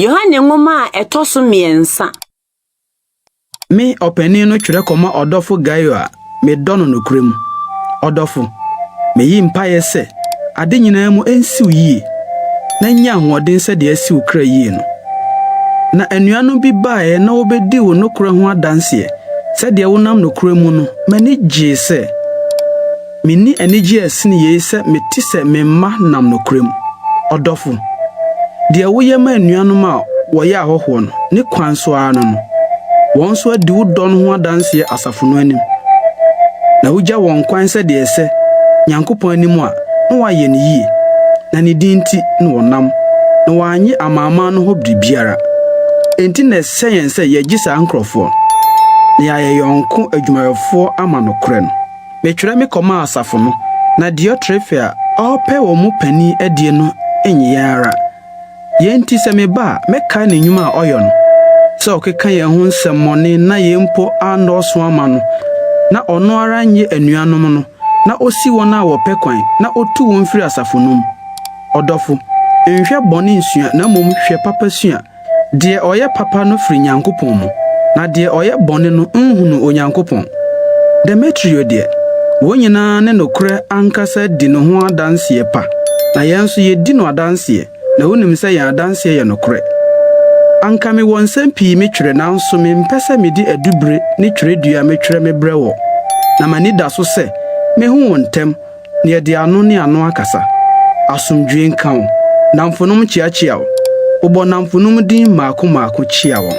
Yohane nwoma a ɛtɔ so mmiɛnsa. Me ɔpanin no twerɛ kɔma ɔdɔfo Gaio a medɔ no nokorɛ mu. Ɔdɔfo, meyi mpaeɛ sɛ ade nyinaa mu nsiw yie, na nya ahoɔden sɛdeɛ asi wo kra yie no. Na anuanom bi baeɛ na wɔbɛdii wo nokorɛ ho adanseɛ. Sɛdeɛ wonam nokorɛ mu no, m'ani gyee sɛ. Menni anigyeɛ a ɛsene yei sɛ mete sɛ me mma nam nokorɛ mu. Ɔdɔfo, deɛ woyɛ ma anuanom a wɔyɛ ahɔhoɔ no, ne kwan so ara no no, wɔn nso adi wo dɔ no ho adanseɛ asafo no anim, na wogya wɔn kwan sɛdeɛ ɛsɛ Nyankopɔn anim a, na wɔayɛ no yie, na ne din nti na wɔnam, na wɔannye amanaman no hɔ biribiara. Enti na ɛsɛ yɛn sɛ yɛgye saa nkurɔfoɔ, na yɛayɛ yɔnko adwumayɛfoɔ ama nokorɛ no. Metwerɛ me kɔmaa asafo no, na Diotrefe a ɔrepɛ wɔn mu panin adie no nnye yɛn ara. Yei nti sɛ meba a, mɛkae ne nnwuma a ɔyɔ no, sɛ ɔkeka yɛn ho nsɛmmɔne na yei mpo annɔɔso amma no, na ɔno ara nnye anuanom no, na ɔsi wɔn a wɔpɛ kwan, na ɔtu wɔn firi asafo no mu. Ɔdɔfo, nhwɛ bɔne nsua, na mmom hwɛ papa sua. Deɛ ɔyɛ papa no firi Nyankopɔn mu, na deɛ ɔyɛ bɔne no nhunuu Onyankopɔn. Demetrio deɛ, wɔn nyina ara ne nokorɛ ankasa di ne ho adanseɛ pa. na yɛn nso yedi no adanseɛ, na wonim sɛ yɛn adanseɛ yɛ nokorɛ. Anka mewɔ nsɛm pii metwerɛ, nanso mempɛ sɛ mede adubire ne twerɛdua metwerɛ mebrɛ wɔ, na m'ani da so sɛ mehu wo ntɛm, na yɛde ano ne ano akasa. Asomdwoeɛ nka wo. Nnamfonom kyeakyea wo. Bobɔ nnamfonom din mmaako mmaako kyea wɔn.